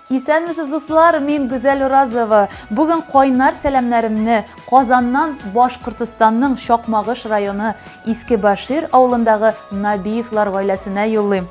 Исәнмесез, дуслар, мин Гүзәл Уразова. Бүген кайнар сәламнәремне Казаннан Башкортостанның Чакмагыш районы Иске Башир авылындагы Набиевлар гаиләсенә юллыйм.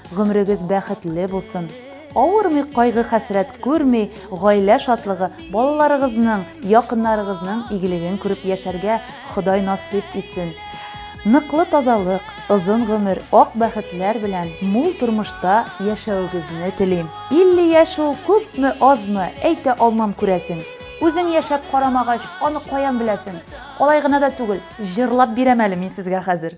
Гомерегез бәхетле булсын! Авырмый, кайгы-хәсрәт күрми, гаилә шатлыгы, балаларыгызның, якыннарыгызның игелеген күреп яшәргә Ходай насыйп итсен! Ныклы тазалык, озын гомер, ак бәхетләр белән мул тормышта яшәвегезне телим! 50 яшь ул күпме, азмы, әйтә алмам, күрәсең. Үзең яшәп карамагач, аны каян беләсең? Алай гына да түгел, җырлап бирәм әле мин сезгә хәзер.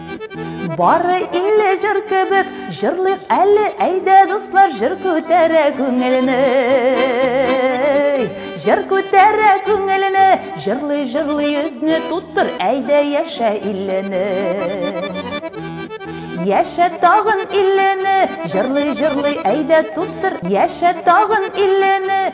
Бары илле җыр кебек, җырлыйк әле, әйдә дуслар, җыр күтәрә күңелне. Җыр күтәрә күңелне, җырлый җырлый йөзне туттыр, әйдә яшә иллене. Яшә тагын иллене, җырлый җырлый әйдә туттыр, яшә тагын иллене.